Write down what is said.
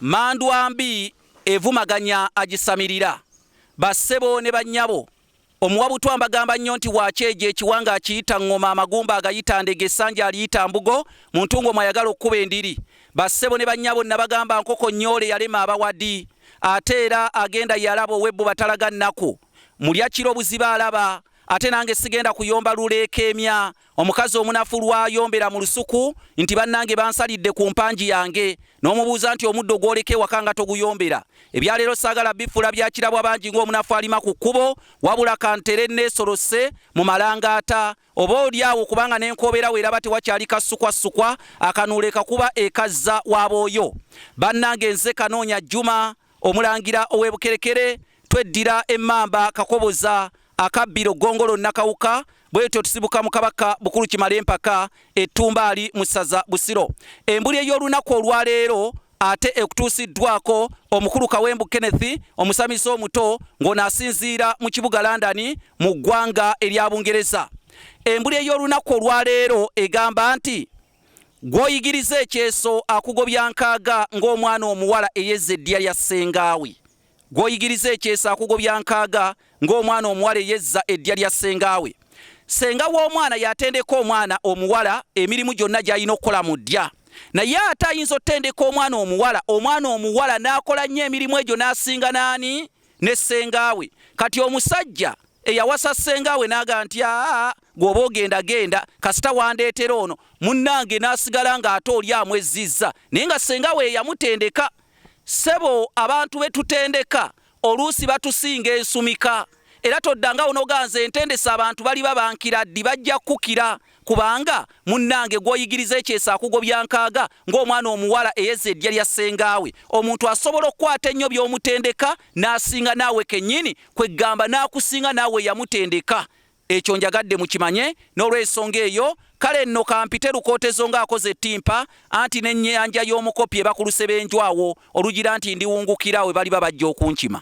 Mmandwa mbi evumaganya agisamirira. Ba ssebo ne bannyabo, omuwa butwa mbagamba nnyo nti wa kyejo ekiwanga akiyita ŋŋoma, amagumba agayita ndege, essanja aliyita mbugo, mu ntungo mwayagala okukuba endiri. Ba ssebo ne bannyabo, nnabagamba nkoko nnyoole yalema abawadi. Ate era agenda ye alaba ow'ebbuba talaga nnaku. Mulya kiro buziba alaba. Ate nange sigenda kuyomba luleekeemya, Omukazi omunafu lw'ayombera mu lusuku nti bannange bansalidde ku mpangi yange n'omubuuza nti omuddo gw'oleka ewaka nga toguyombera. Ebya leero saagala bifuula bya kirabwa bangi ng'omunafu alima ku kkubo wabula ka ntere nneesolose mu malangaata oboolyawo kubanga ne nkoobera weeraba tewakyali kassukwasukwa akanuula ekakuba ekazza wa booyo. Bannange nze Kanoonya Juma omulangira ow'e Bukerekere tweddira emmamba Kakoboza akabbiro ggongolo nnakawuka bwetyo tusibuka mu kabaka bukulu kimala empaka ettumbaali mu ssaza busiro embuli ey'olunaku olwaleero ate ekutuusiddwako omukulu kawembu kenneth omusamize omuto ng'ono asinziira mu kibuga london mu ggwanga erya bungereza embuli ey'olunaku olwaleero egamba nti gw'oyigiriza ekyeso akugobya nkaaga ng'omwana omuwala eyezza eddiya lya ssengaawe Gw'oyigiriza ekyeso akugobya nkaaga ng'omwana omuwala eyezza eddya lya ssenga we. Ssenga w'omwana y'atendeka omwana omuwala emirimu gyonna gy'alina okukola mu ddya. Naye ate ayinza otendeka omwana omuwala, omwana omuwala n'akola nnyo emirimu egyo n'asinga n'ani? Ne ssenga we. Kati omusajja eyawasa ssenga we n'agamba nti, Aa, gwe oba ogenda genda, kasita wandeetera ono, munnange, n'asigala ng'ate oli amwezzizza, naye nga ssenga we ye yamutendeka. Ssebo abantu be tutendeka oluusi batusinga ensumika era toddanga onoganza entendesa abantu baliba bankira ddi bajja kukira kubanga munnange gw'oyigiriza ekyeso akugobya nkaaga ng'omwana omuwala eyeza eddya lya ssengaawe omuntu asobola okukwata ennyo by'omutendeka n'asinga naawe kennyini kweggamba n'akusinga naawe yamutendeka Ekyo njagadde mukimanye, n'olw'ensonga eyo, kale nno ka mpite Lukootezo nga akoze ettimpa, anti n'ennyanja y'omukopi eba ku lusebenju awo, olugira nti ndiwungukira we baliba bajja okunkima.